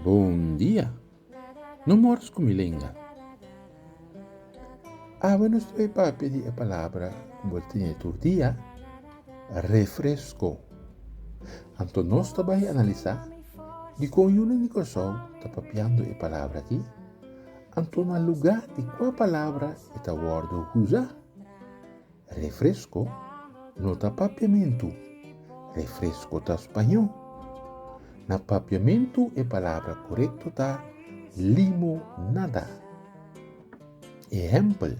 Bondia! No mors ku mi lenga. Awe nos troe papia di e palabra ku bo tin tur dia. Refresco. Anto nos ta bai analisá dikon yunan di Kòrsou ta papiando e palabra akí, anto na lugá di kua palabra e ta wòrdu usá. Refresco no ta papiamentu, refresco ta spañó. Na papiamentu e palabra korekto ta limonada. Ehèmpel.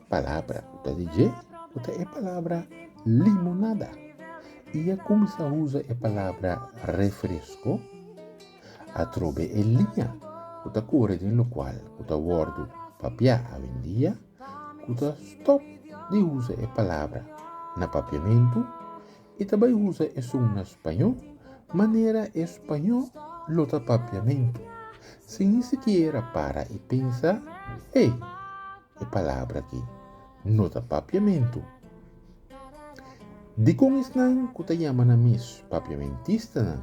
Palabra ku ta di dje ku ta e palabra limonada. I a kuminsá usa e palabra refresko atrobe e liña ku ta kore den lokual ku ta wòrdu papiá awendia ku ta stòp di usa e palabra na papiamentu E ta bai usa esun na spañó manera e spañó lo ta papiamentu, sin ni sikiera para i pensa, Hey, e palabra aki no ta papiamentu. Dikon esnan ku ta yama nan mes papiamentistanan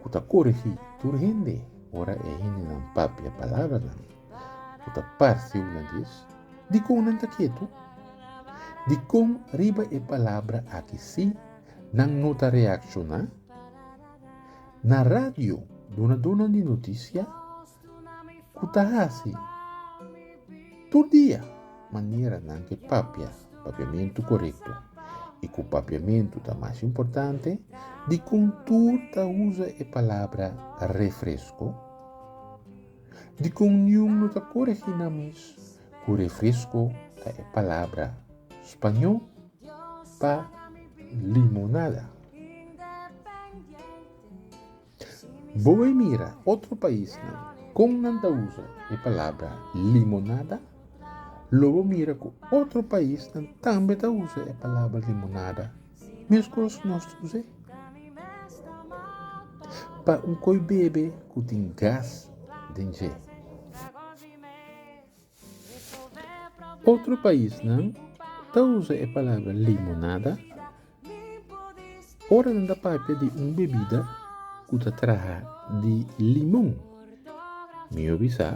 ku ta korigí tur hende ora e hendenan papia palabranan ku ta parse una di es? Dikon nan ta ketu? Dikon riba e palabra aki sí nan no ta reakshoná? Na radio dunadonan di notisia ku ta hasi tur dia manera nan ke papia papiamentu korekto i ku papiamentu ta mas importante, dikon tur ta usa e palabra refresko? Di kon niun no ta koregí nan mes ku refresko ta e palabra spañó pa limonada. Bo bai mira otro paisnan kon nan ta usa e palabra limonada, lo bo mira ku otro paisnan tambe ta usa e palabra limonada. Meskos nos ta kusé pa un koi bebe ku tin gas den dje. Otro paisnan ta usa e palabra limonada ora nan ta papia di un bebida ku ta traha di limon. Mi obi sa.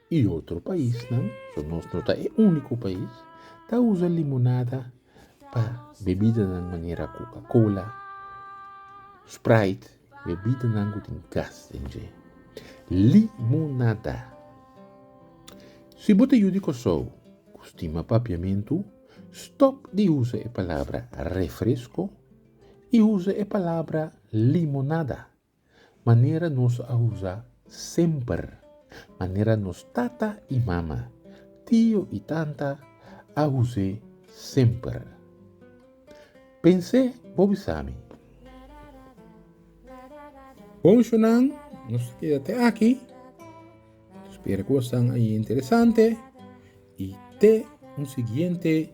y otro paisnan, so nos no ta e unico pais, ta usa limonada pa bebidanan manera Coca Cola, Sprite, bebidanan cu tin gas den dje. Limonada! Si bo ta yu di Kòrsou cu stima papiamentu, stop di usa e palabra refresco y usa e palabra limonada. Manera nos a usa semper. Manera nos tata i mama, tio i tanta a us'é semper. Pens'é bo bisami. Ponchonan, nos ta keda te aki. Spera ku bo san interesante i te un siguiente.